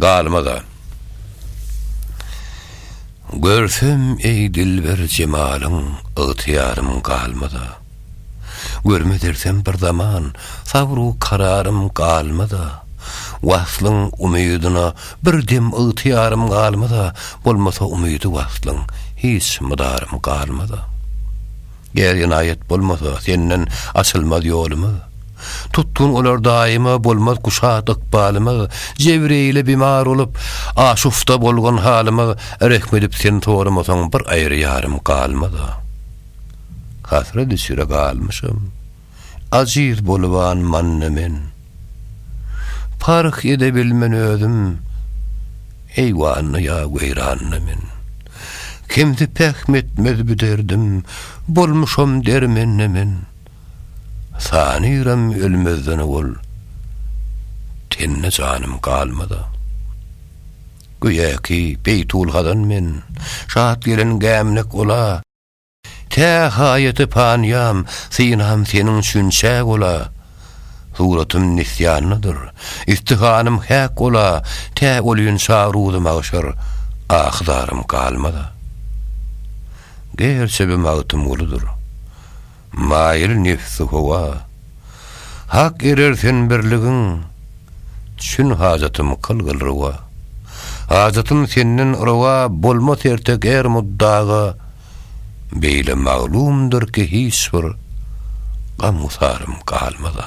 Galmaz-a. Görsem, eý, dilber jemalyň, Ygtyýarym galmaz-a. Görmez ersem bir zaman, Sabr-u kararym galmaz-a. Waslyň umydyna bir dem Ygtyýarym galmaz-a, Bolmasa umydy waslyň, Hiç mydarym galmaz-a. Ger ynaýat bolmasa, senden açylmaz ýolumyz. Tutgun olar daýyma, bolmaz kuşat ykbalymyz. Jebreýile bimar bolup, aşufta bolgan halymyz, rehm edip sen soramasaň, bir aýry ýarym galmaz. Hasrat içre galmyşam. ajiz boluban manna men. Parh edebilmen özüm eýwanda ýa weýranda men. Kimsi pähm etmez bu derdim, bolmuşam dermende men. Sanyram ölmezden owal, tende janym galmada. Göýäki Beýtul Hazan men, şat gelen gämnek ola. Tä haýaty panýam, synam seniň üçin çäk ola, Suratym nisýanlydyr, istihanym häk ola, Tä olýyn çag ruzy magşar, ahy-zarym galmada. Gerçe bi Magtymgulydyr, maýyl nebsi howa, Hak erer sen birligiň çün hajatym kylgyl rowa. Hajatym senden rowa bolmas ertek er muddaga beýle maglumdyr ki hiç bir gam-gusarym galmaza.